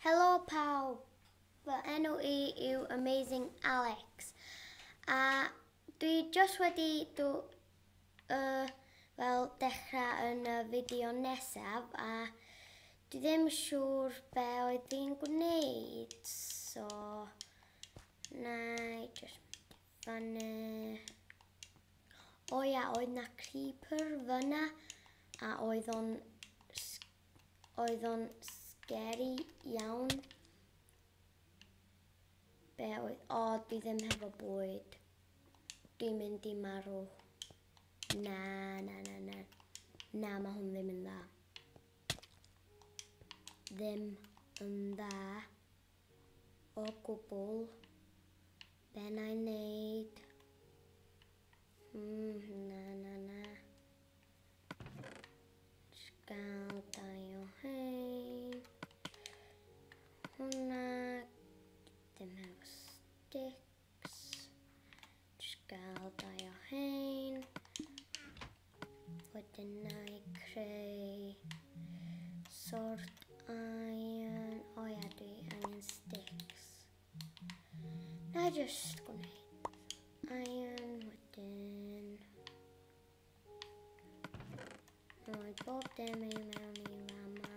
Helo pawb, fy enw i yw Amazing Alex a dwi just wedi dw, uh, fel dechrau yn y fideo nesaf a dwi ddim siŵr be oedd fi'n gwneud so na i just Fan 'na. O ia, oedd 'na creeper fan 'na, a oedd o'n... oedd o'n scary iawn. Be oedd... O, dwi ddim hefo bwyd. Dwi'n mynd i marw. Na, na, na, na. Na, mae hwn ddim yn dda. Ddim yn dda. o gwbl be na i neud. Mm, na, na, na. Sgal dau o hyn. Hwna. Dim hefo stick. Just gael dau o hein. Wedyn na i creu sort iron. O oh, ia, dwi angen sticks. Na i just gwneud iron wedyn. Rhoi bob dim i mewn i fama.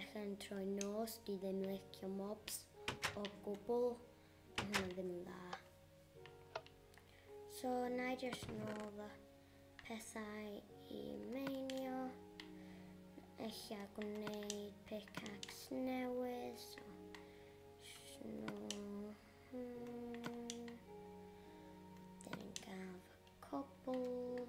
Ych yn troi nos i ddim licio mobs o gwbl. Mae hynna ddim yn dda. So, na i just nôl fy pethau i meinio. Eich a gwneud pickaxe newydd. So, snow. Hmm. Dyn ni'n gael fy cobl.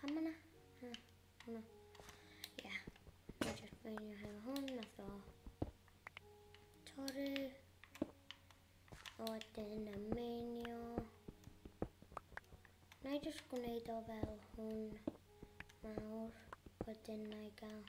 Pam yna? Hwna. Hwna. Ia. Dwi'n just beinio hefo hwn, nath o torri. A wedyn y meinio. Na i just gwneud o fel hwn mawr, wedyn na i gael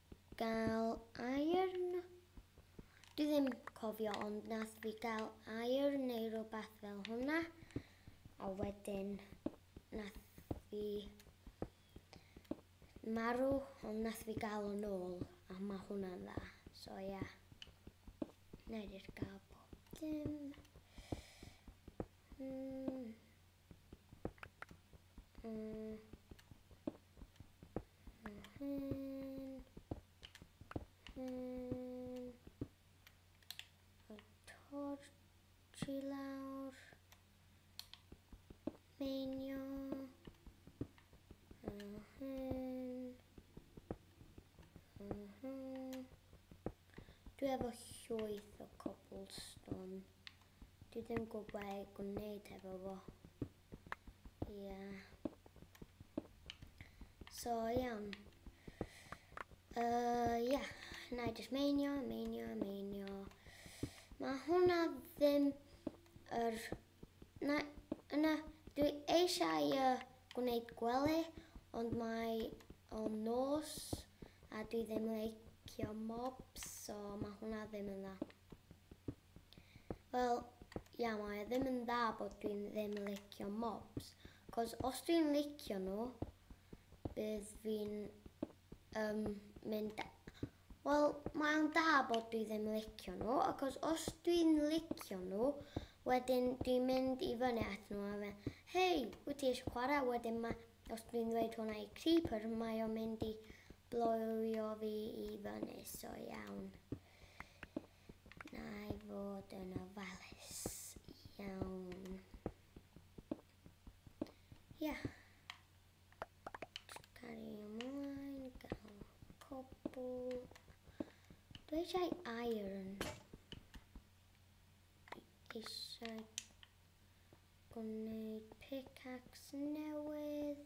Gael airn? Dwi ddim cofio ond nath fi gael airn neu rhywbeth fel hwnna a wedyn nath fi marw ond nath fi gael yn ôl a mae hwnna'n dda. So ia. Yeah. Nair gael bob dim. Mm. Uh, hen, hen, y torch i lawr, meinio, y hen, y hen. Dwi efo llwyth o cobblestone. Dwi ddim yn gwybod be i gwneud hefo fo. Ia. So, iawn. Uh, ia, na i jyst meinio, meinio, meinio. Mae hwnna ddim yr... Na, yna, dwi eisiau uh, gwneud gwely, ond mae o nos a dwi ddim yn leicio mobs, so mae hwnna ddim yn dda. Wel, ia mae o ddim yn dda bod dwi'n ddim yn licio mobs, cos os dwi'n licio nhw, bydd fi'n um, mynd... Wel, mae o'n da bod dwi ddim yn licio nhw, achos os dwi'n licio nhw, wedyn dwi'n mynd i fyny at nhw a fe, hei, wyt ti eisiau chwarae? Wedyn mae, os dwi'n dweud hwnna i Creeper, mae o'n mynd i bloio fi i fyny, so iawn. Na i fod yn ofalus iawn. Ia. Yeah. Gari ymlaen, gael cobl. Dwi eisiau iron. Dwi eisiau gwneud pickaxe newydd.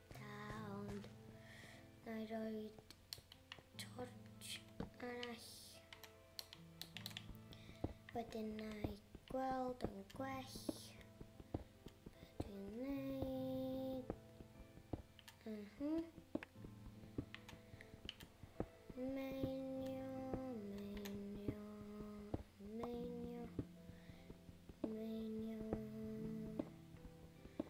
Da, ond na i roi torch arall. Wedyn na i gweld yn gwell. Dwi'n neud. Mhm. Uh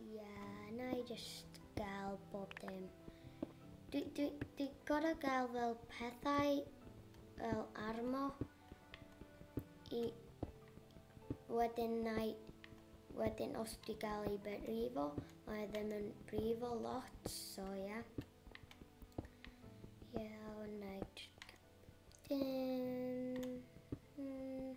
Ie, na i jyst gael bob dim. Dwi, dwi, dwi gorau gael fel pethau fel armo i wedyn na i wedyn os dwi gael ei brifo, mae ddim yn brifo lot, so ie. Yeah. Ie, yeah, na i jyst gael dim.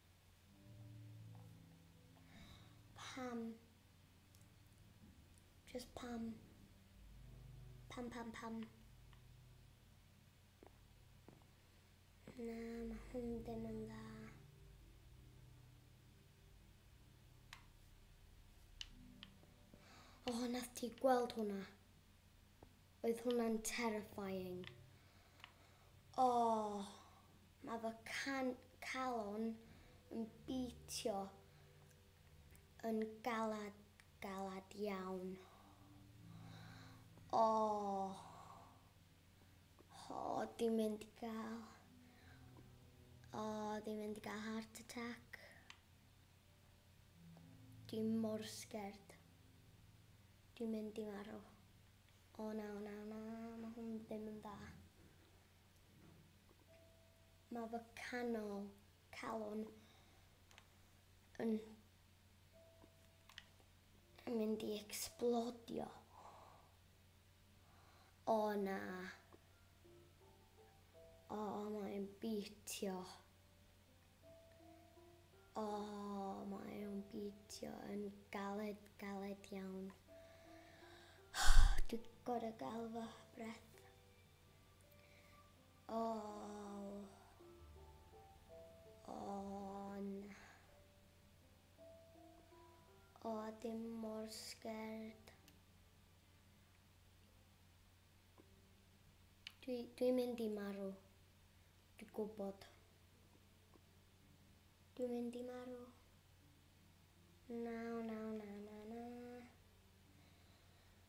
Pam? Just pam? Pam, pam, pam? Na, mae hwn ddim yn dda. O, oh, nath ti gweld hwnna? Oedd hwnna'n terrifying. O, oh, Mae fy nghalon yn bîtio yn galad, galad iawn. O! O, dwi'n mynd i gael... O, dwi'n mynd i gael heart attack. Dwi mor sgerd. Dwi'n mynd i marw. O na, o na, o na, mae hwn ddim yn dda. Mae fy canol calon yn mynd i ecsblodio. O na. O, mae'n bîtio. O, mae o'n bîtio yn galed, galed iawn. Dwi'n gorau gael fy breath. All on O dim mor sgerd Dwi dwi'n mynd i marw Dwi gwbod Dwi'n mynd i marw Na na na na na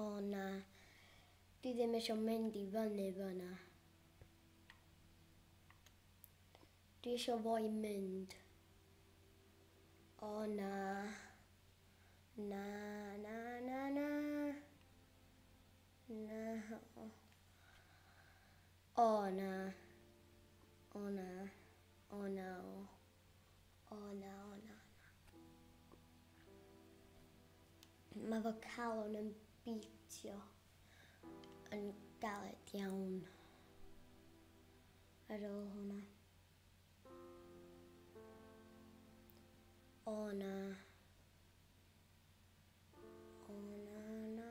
O na, dwi ddim eisiau mynd i fyny fyna. Dwi eisiau fo i mynd. O na. Na, na, na, na. Na. O na. O na. O na. O na, o na, na. Mae fy calon yn bîtio yn galed iawn ar ôl hwnna. O na. O na, na.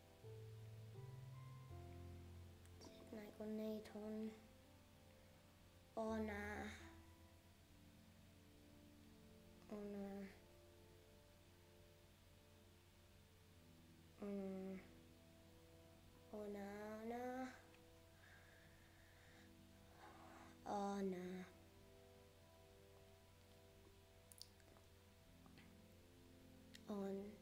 Na i gwneud hwn. O na. O na. O na. O na, na. O na. On.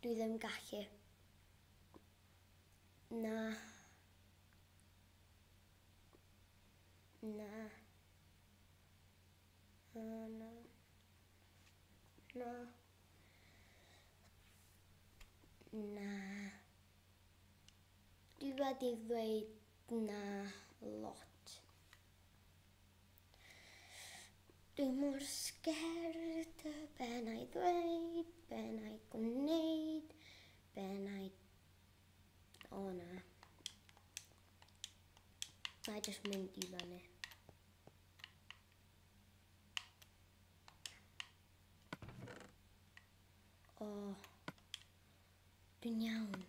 Dwi ddim gallu. Na. Na. Na, na. Na. Na. Dwi wedi ddweud na lot. Dwi mor sgerd, be na i ddweud, be na i gwneud, be na i... O na. Na i just mynd i fyny. O. Dwi'n iawn.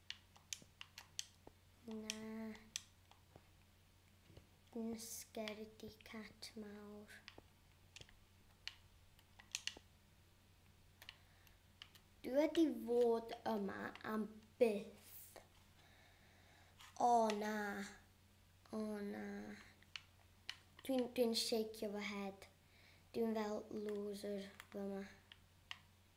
Na. Nysger di cat mawr. Dwi wedi fod yma am byth. O na. O na. Dwi'n dwi shake fy head. Dwi'n fel loser fyma.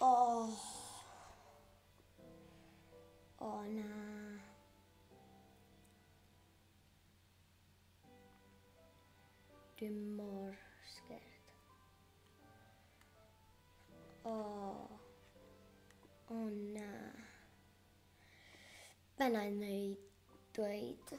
Oh. Oh na. Dim mor sgert. Oh. Oh na. Bennau neu dweud.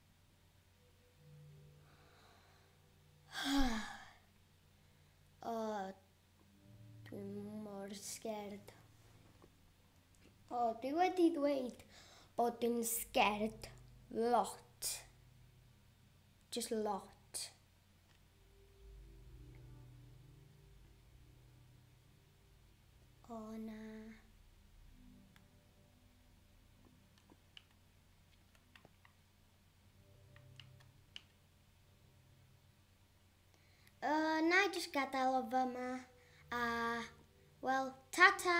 O, dwi mor sgerd. O, dwi wedi ddweud bod dwi'n sgerd lot. Just lot. O na. Uh, na i just gadael o fyma. A, wel, ta-ta!